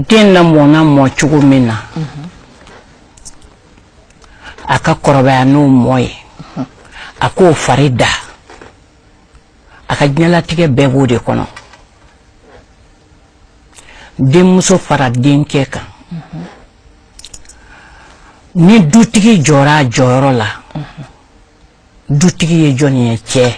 den lamɔna mɔ cogo min na a ka kɔrɔbaya n'o mɔ ye a k'o fari da a ka diɲɛlatigɛ bɛɛ b'o de kɔnɔ denmuso fara denkɛ kan ni dutigi jɔra a jɔyɔrɔ la dutigi ye jɔn ye cɛ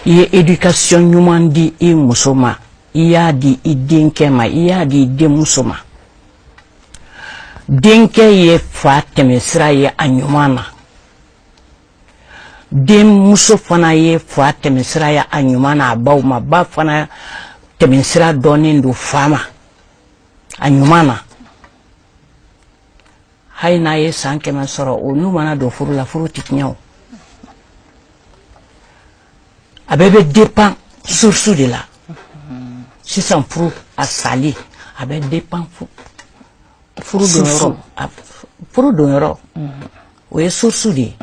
i ye éducation ɲuman di i muso ma i y'a di i denkɛ ma i y'a di i denmuso ma denkɛ ye fa tɛmɛsira ye a ɲuman na denmuso fana ye fa tɛmɛsira ye a ɲuman na a baw ma ba fana tɛmɛsira dɔnnen don fa ma a ɲuman na hali n'a ye san kɛmɛ sɔrɔ olu mana don furu la furu tɛ tiɲɛ o a bɛɛ bɛ dépend source de la sisan furu a sali a bɛ dépend furu donyɔrɔ o ye source de ye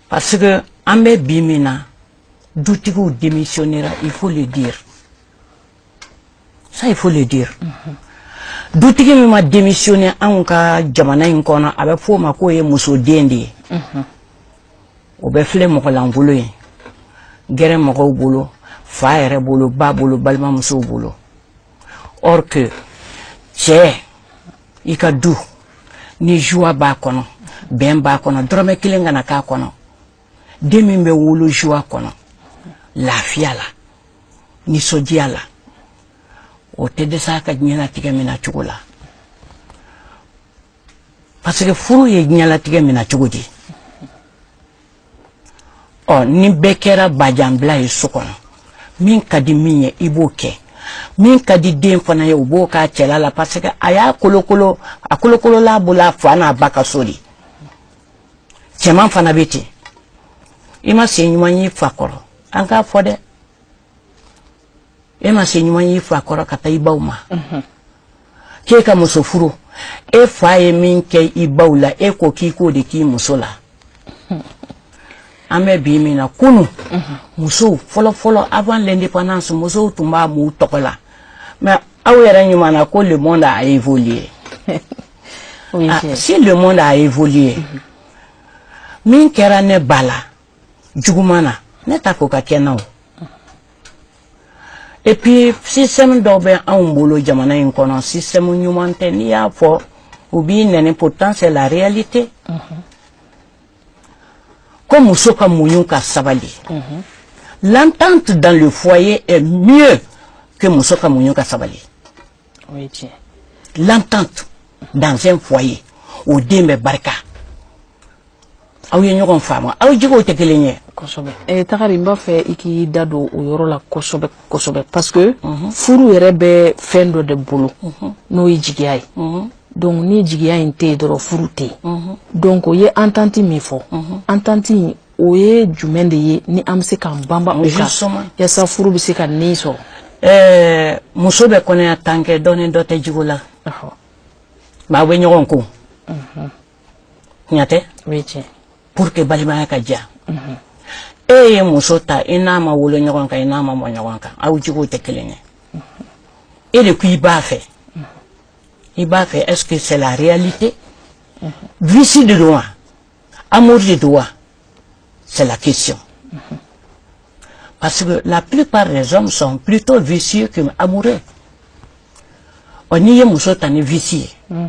parce que an bɛ bi min na dutigiw démissionnera il faut le dire ça il faut le dire dutigi min ma démissionner anw ka jamana in kɔnɔ a bɛ fɔ o ma k'o ye musoden de ye o bɛ filɛ mɔgɔ lankolon ye gɛrɛ mɔgɔw bolo fa yɛrɛ bolo ba bolo balimamusow bolo or que cɛ i ka du ni joie b'a kɔnɔ bɛn b'a kɔnɔ dɔrɔmɛ kelen kana k'a kɔnɔ den min bɛ wolo joie kɔnɔ lafiya la nisɔndiya la o tɛ dɛsɛ a ka diɲɛlatigɛ minɛ cogo la parce que furu ye diɲɛlatigɛ minɛ cogo di ɔ ni bɛɛ kɛra bajanbila ye so kɔnɔ min ka di min ye i b'o kɛ min ka di den fana ye o b'o k'a cɛla la parce que a y'a kolokolo a kolokolola bolo a fa n'a ba ka so de cɛman fana bɛ ten i ma se ɲuman y'i fa kɔrɔ an k'a fɔ dɛ e ma se ɲuman y'i fa kɔrɔ ka taa i ba ma mhm. k'e ka muso furu e fa ye min kɛ i ba la e ko k'i k'o de k'i muso la mhm. an bɛ bi min na kunu mhm. musow fɔlɔfɔlɔ avant l'indépendance musow tun b'a m'u tɔgɔ la mais aw yɛrɛ kumana ko le monde a évolué ah, si le monde a évolué min kɛra ne ba la juguman na ne ta ko ka kɛ na o et puis système dɔw bɛ anw bolo jamana in kɔnɔ système ɲuman tɛ n'i y'a fɔ u b'i nɛni pourtant c'est la réalité ko muso ka muɲu ka sabali l'entente dans le foyer est mieux que muso ka muɲu ka sabali o ye tiɲɛ l'entente dans un foyer o den bɛ barika aw ye ɲɔgɔn faamu aw jogow tɛ kelen ye kosɛbɛ eh, tagari n b'a fɛ i k'i da don o yɔrɔ la kosɛbɛ kosɛbɛ parce que mhm. furu yɛrɛ bɛ fɛn dɔ de bolo mhm. n'o ye jigiya ye mhm. donc ni jigiya in tɛ yen dɔrɔn furu tɛ yen donc o ye entente min fɔ entente in o ye jumɛn de ye ni an bɛ se k'an banba o kan yasa furu bɛ se ka ni sɔrɔ ɛɛ muso bɛ kɔnɔya tan kɛ dɔ ni dɔ tɛ jogo la mais aw bɛ ɲɔgɔn kun tiɲɛ tɛ pour que balimaya ka diya e ye muso ta i n'a ma wolo ɲɔgɔn kan i n'a ma mɔ ɲɔgɔn kan aw jogow tɛ kelen ye e de ko i b'a fɛ i b'a fɛ est-ce que c'est la réalité vice de don wa amour de don wa c'est la question parce que la plupart des hommes sont plutôt vicieux que amoureux ɔ n'i ye muso ta ni vice ye mm.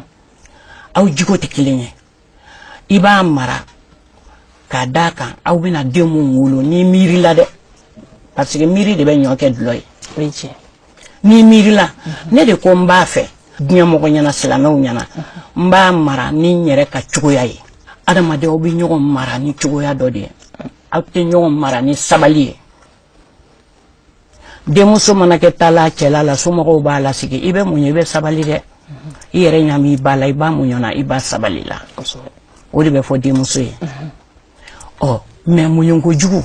aw jogo tɛ kelen ye i b'a mara k'a d'a kan aw bɛna den minnu wolo n'i miirila dɛ parce que miiri de bɛ ɲɔ kɛ dulɔ ye n'i miirila ne de ko n b'a fɛ diɲɛ mɔgɔ ɲɛna silamɛw ɲɛna n b'a mara ni n yɛrɛ ka cogoya ye adamadenw bɛ ɲɔgɔn mara ni cogoya dɔ de ye aw tɛ ɲɔgɔn mara ni sabali ye denmuso mana kɛ taa la cɛla la somɔgɔw b'a lasigi i bɛ muɲu i bɛ sabali dɛ i yɛrɛ ɲɛ b'i ba la i ba muɲuna i ba sabalila o de bɛ fɔ denmuso ye ɔ mais muɲu kojugu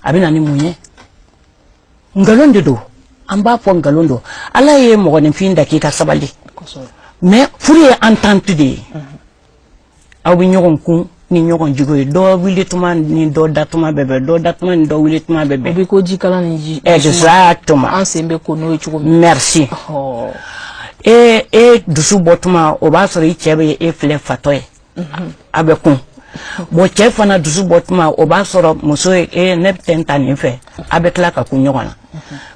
a bɛ na ni mun ye nkalon de don an b'a fɔ nkalon don ala ye mɔgɔninfin da k'i ka sabali mais furu ye entente de ye aw bɛ ɲɔgɔn kun ni ɲɔgɔn jogo ye dɔ wuli tuma ni dɔ da tuma bɛ bɛn dɔ da tuma ni dɔ wuli tuma bɛ bɛn. o bɛ ko jikalan ni ji. exactement. an sen bɛ ko n'o ye cogo min. merci. e e dusu bɔ tuma o b'a sɔrɔ i cɛ bɛ e filɛ fatɔ ye. a bɛ kun bon cɛ fana dusu bɔ tuma o b'a sɔrɔ muso ye e eh, ne bɛ tɛ ta nin fɛ a bɛ tila ka kun ɲɔgɔn na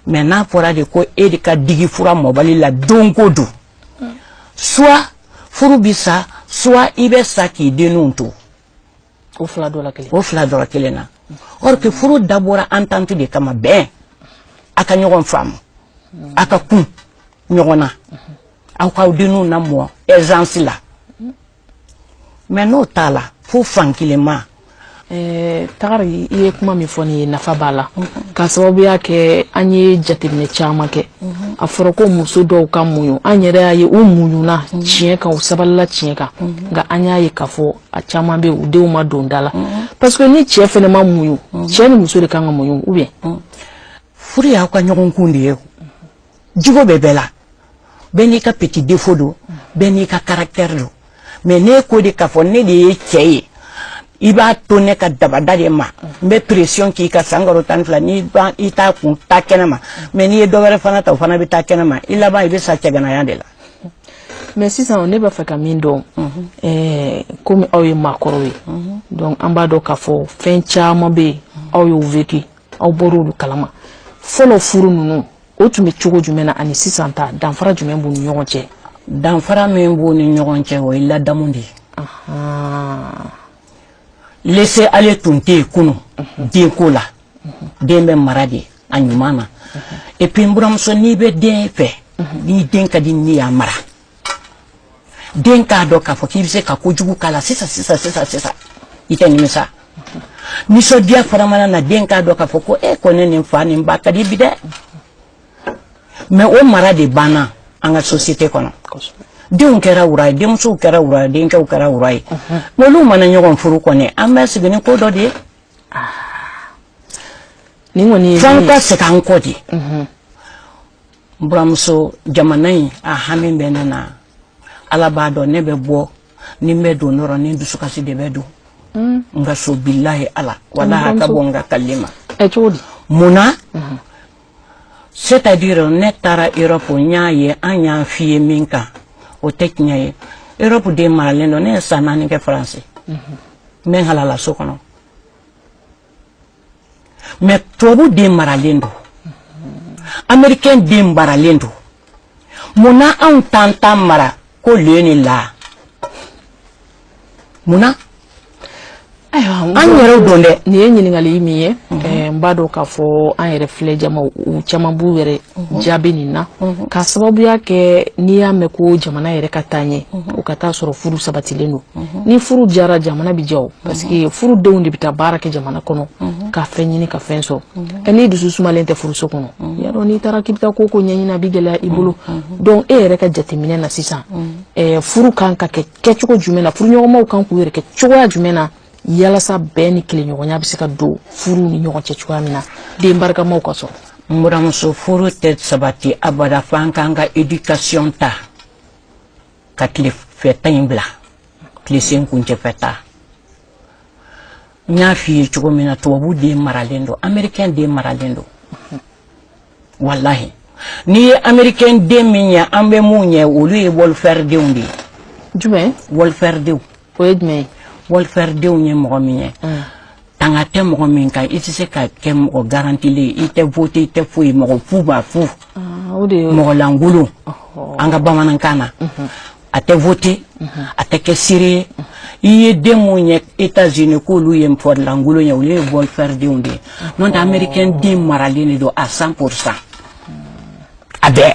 mais n'a fɔra de ko e de ka digi fura mɔbali la don ko don soit furu bɛ sa soit i bɛ sa k'i denninw to o fila dɔ la kelen na or que furu dabɔra entente de kama bɛn a ka ɲɔgɔn faamu a ka kun ɲɔgɔn na aw k'aw denninw lamɔ aisance la mais n'o t'a la fo fankelenma eh, tagari i ye kuma min fɔ nin ye nafa b'a la k'a sababuya kɛ an ye jateminɛ caman kɛ a fɔra ko muso dɔw ka muɲu an yɛrɛ y'a ye u muɲuna tiɲɛ kan u sabalila tiɲɛ kan nka an y'a ye k'a fɔ a caman bɛ u denw ma don da la parce que ni cɛ fɛnɛ ma muɲu cɛ ni muso de kan ka muɲu ou bien furu y'aw ka ɲɔgɔn kun de ye jogo bɛ bɛɛ la bɛɛ n'i ka petit défaut don bɛɛ n'i ka caractère don mais ne ko de k'a fɔ ne de ye cɛ ye i b'a to ne ka dabada de ma n bɛ pression k'i kan san kalo tan ni fila n'i ban i t'a kun taa kɛnɛ ma mais n'i ye dɔ wɛrɛ fana ta o fana bɛ taa kɛnɛ ma i laban i bɛ sa cɛganaya de la mais sisan ne b'a fɛ ka min dɔn eh, komi aw ye maakɔrɔw ye donc an b'a dɔn k'a fɔ fɛn caman bɛ yen aw y'o vécu aw bɔra olu kalama fɔlɔ furu ninnu o tun bɛ cogo jumɛn na ani sisan ta danfara jumɛn b'u ni ɲɔgɔn cɛ danfara min b'u ni ɲɔgɔn cɛ o ye ladamu de ye laisser aller tun tɛ yen kunun mhm. denko la mhm. den bɛ mara de a ɲuman na mhm. et puis n buramuso n'i bɛ den fɛ n'i den ka di n'i y'a mara den k'a dɔn k'a fɔ k'i bɛ se ka kojugu k'a la sisan sisan sisan sisan i tɛ nimisa nisɔndiya fana mana na den k'a dɔn k'a fɔ ko e kɔni ni n fa ni n ba ka di bi dɛ mais o mara de banna an ka société kɔnɔ denw kɛra wura ye denmusow kɛra wura ye denkɛw kɛra wura ye n'olu mana ɲɔgɔn furu kɔni an bɛ sigi ni ko dɔ de ye f'an ka segin an kɔ de n buramuso jamana in a hami bɛ ne na ala b'a dɔn ne bɛ bɔ ni n bɛ don dɔrɔn ne dusukasi de bɛ don mm. n ka so bilahi ala walahi a ka bɔ n ka kalili ma mun na mm-hmm. c'est à dire ne taara europe n y'a ye an y'an fiyen min kan o tɛ tiɲɛ ye europe den maralen don ne ye san naani kɛ faransi n bɛ n halala so kɔnɔ mais tubabu den maralen don amerikɛn den maralen don mun na anw t'an ta mara ko le ni la mun na an yɛrɛw don dɛ nin ye ɲininkali min ye n b'a dɔn k'a fɔ an yɛrɛ filɛ jama u caman b'u yɛrɛ jaabi nin na k'a sababuya kɛ n'i y'a mɛn ko jamana yɛrɛ ka taa ɲɛ o ka t'a sɔrɔ furu sabatilen don ni furu jara jamana bɛ ja parce que furudenw de bɛ taa baara kɛ jamana kɔnɔ ka fɛn ɲini ka fɛn sɔrɔ ɛ n'i dusu sumalen tɛ furuso kɔnɔ y'a dɔn n'i taara k'i bɛ taa ko ko ɲɛɲini a bɛ gɛlɛya i bolo donc e yɛrɛ ka jateminɛ na sisan furu kan ka kɛ kɛcogo jumɛn na furuɲɔgɔnmaw kan k'u yɛrɛ kɛ cogoya jumɛn na yalasa bɛn ni tileɲɔgɔnya bɛ se ka don furuw ni ɲɔgɔn cɛ cogoya min na den barikamaw ka sɔrɔ n buramuso furu tɛ sabati abada fo an k'an ka éducation ta ka tilefɛta in bila tilesen kuncɛfɛta n y'a f'i ye cogo min na tubabu den maralen don américain den maralen don walahi n'i ye américain den min ye an bɛ mun ye olu ye welfare denw de ye jumɛn welfare denw o ye jumɛn ye welfare denw ye mɔgɔ min ye mm. tanga tɛ mɔgɔ min kan i tɛ se ka kɛ mɔgɔ garantilen i tɛ voter i tɛ foyi mɔgɔ fu ba fu ah, mɔgɔ lankolon an ka bamanankan na mm-hmm. a tɛ voter mm-hmm. a tɛ kɛ seere ye i ye den minnu ye États-Unis k'olu ye mɔgɔ lankolon ye olu ye welfare denw de ye n'o tɛ américain den maralen de don à 100 pour cent a bɛɛ